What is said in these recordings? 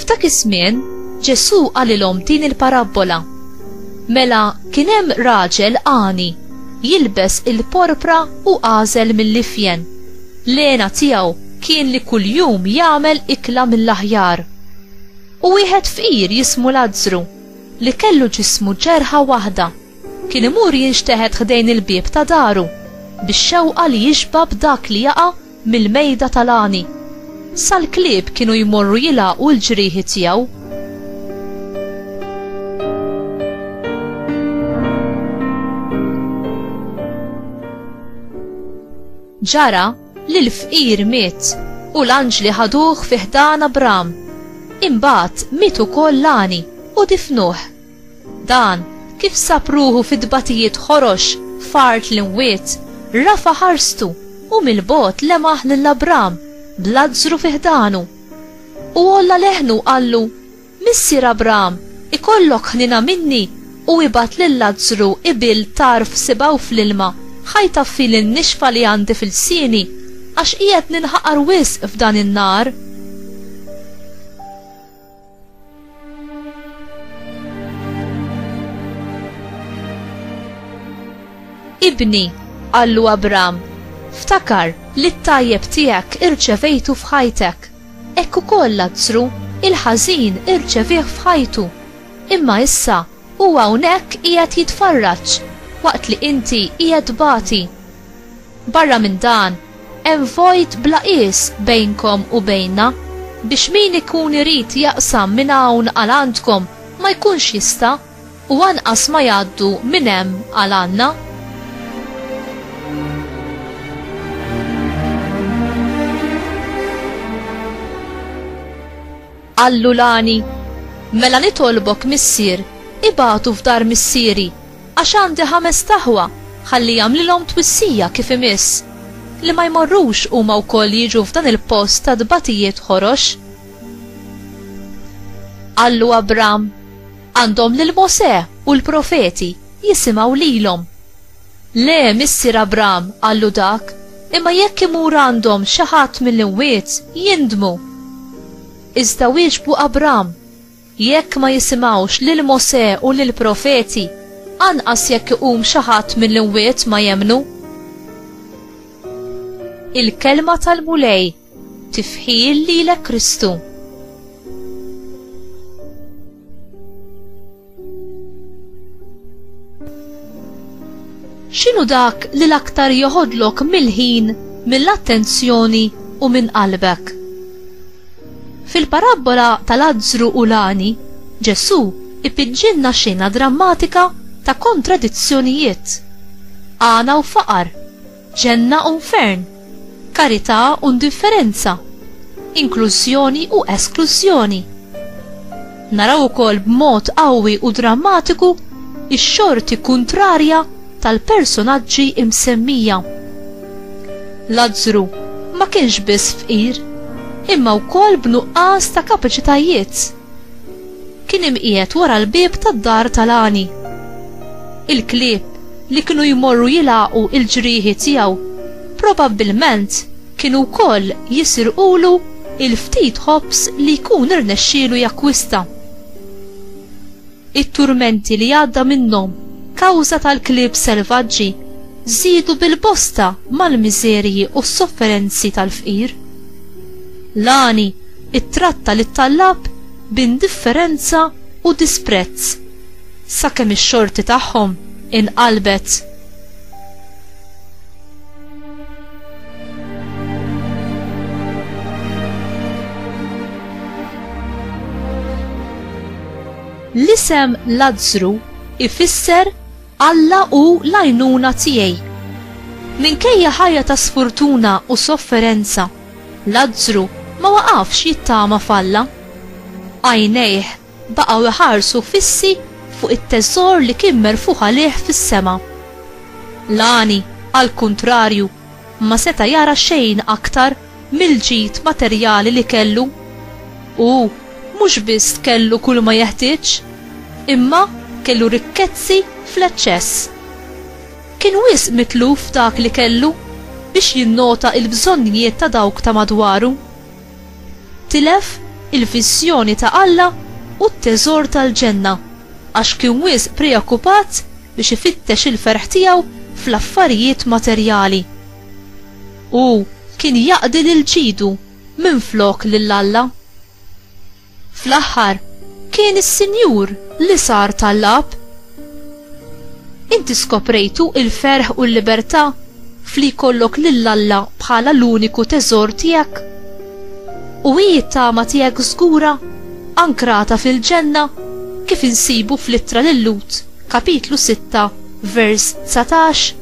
F'dak iż-żmien, Ġesù qalilhom din il-parabbola. Mela kien hemm raġel għani, jilbes il-porpra u għażel mill-ifjen. L-għena tiegħu kien li kuljum jagħmel ikla mill-aħjar. U wieħed fqir jismu Lazzru, li kellu ġismu ġerħa waħda, kien imur jinxteħet ħdejn il-bieb ta' daru, bix-xewqa li jixba' b'dak li jaqa' mill-mejda tal-għani, sal-klieb kienu jmorru jilgħaqu l-ġrieħi tiegħu. Ġara li l-fqir miet u l-anġli ħaduh fi ħdan Abram. Imbagħad miet ukoll l-għani u difnuh. Dan kif sab ruħu fi tbatijiet ħorox f'art l-imwiet, rafa' ħarstu u mill-bogħod lemaħ lil Abram b'Lazzru fi ħdanu. U għolla leħnu u qallu, Missier Abram, ikollok ħniena minni u ibgħat lil Lazzru ibil tarf sibgħu fl-ilma ħa jtaffi lin-nixfa li għandi fil-lsieni għax qiegħed ninħaqar wisq f'dan in-nar. Ibni, qallu Abram, ftakar li t-tajjeb tiegħek irċevejtu f'ħajtek. Ekk ukoll Lazzru, il-ħażin irċevih f'ħajtu. Imma issa Hu hawnhekk qiegħed jitfarraġ waqt li inti qiegħed tbati. Barra minn dan, hemm vojt bla qies bejnkom u bejnna, biex min ikun irid jaqsam minn hawn għal għandkom ma jkunx jista' u anqas ma jgħaddu minn hemm għal għandna. Qallu l-għani, Mela nitolbok, missier, ibagħtu f'dar missieri, għax għandi ħamest aħwa, ħalli jagħmlilhom twissija kif imiss, li ma jmorrux huma wkoll jiġu f'dan il-post ta' tbatijiet ħorox. Qallu Abram, Għandhom lil Mosè u l-profeti, jisimgħu lilhom. Le, missier Abram, qallu dak, imma jekk imur għandhom xi ħadd mill-imwiet, jindmu. Iżda wieġbu Abram, Jekk ma jisimgħux lil Mosè u lill-profeti, anqas jekk iqum xi ħadd mill-imwiet ma jemmnu. Il-Kelma tal-Mulej. Tifħir lilek Kristu. X'inhu dak li l-aktar joħodlok mill-ħin, mill-attenzjoni u minn qalbek? Fil-parabbola tal-azzru u lani, Ġesù ipiġġilna xena drammatika ta' kontradizzjonijiet, għana u faqar, Ġenna u nfern, karità u ndifferenza, inklużjoni u esklużjoni. Naraw ukoll b'mod qawwi u drammatiku x-xorti kuntrarja tal-personaġġi msemmija. Lazzru ma kienx biss fqir, imma wkoll b'nuqqas ta' kapaċitajiet. Kien imqiegħed wara l-bieb tad-dar ta' Lani. Il-klieb li kienu jmorru jilgħaqu l-ġrieħi tiegħu probabbilment kienu wkoll jisirqulu l-ftit ħobż li jkun irnexxielu jakkwista. It-turmenti li għadda minnhom kawża tal-klieb selvaġġi żiedu bil-bosta mal-miżerji u s-sofferenzi tal-fqir. Lani ttratta lit-tallab b'indifferenza u disprezz, sakemm ix-xorti tagħhom inqalbet. L-isem Lazzru ifisser Alla hu l-għajnuna tiegħi. Minkejja ħajja ta' sfurtuna u sofferenza, Lazzru ma waqafx jittama f'Alla. Għajnejh baqgħu iħarsu fissi fuq it-teżor li kien merfugħ għalih fis-sema. L-għani, għall-kuntrarju, ma seta' jara xejn aktar mill-ġid materjali li kellu. Hu mhux biss kellu kulma jeħtieġ, imma kellu rikkezzi fl-eċċess. Kien wisq mitluf f'dak li kellu biex jinnota l-bżonnijiet ta' dawk ta' madwaru. Tilef il-viżjoni ta' Alla u t-teżor tal-ġenna għax kien wisq preokkupat biex ifittex il-ferħ tiegħu fl-affarijiet materjali. Hu kien jaqdi lil ġidu minflok lil Alla. Fl-aħħar, kien is-Sinjur li sar tal-Ab. Inti skoprejtu il-ferħ u l-libertà f'li jkollok lil Alla bħala l-uniku teżor tiegħek? U hi t-tama tiegħek żgura, ankrata fil-ġenna, kif insibu fl-ittra lil Lut, kapitlu 6, vers 19?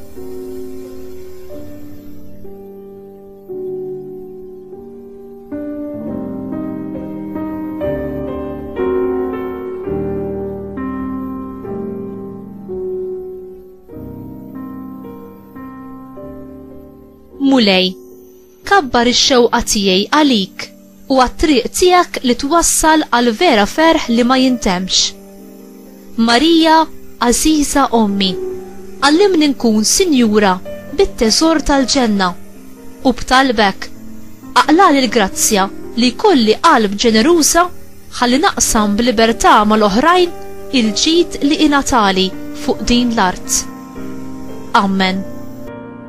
Mulej, kabbar ix-xewqa tiegħi għalik. u għat-triq tiegħek li twassal għal vera ferħ li ma jintemmx. Marija, għażiża Ommi, għallimni nkun sinjura bit-teżor tal-ġenna, u b'talbek, aqlagħli l-grazzja li jkolli qalb ġeneruża ħalli naqsam b'libertà mal-oħrajn il-ġid li ingħatali fuq din l-art. Amen.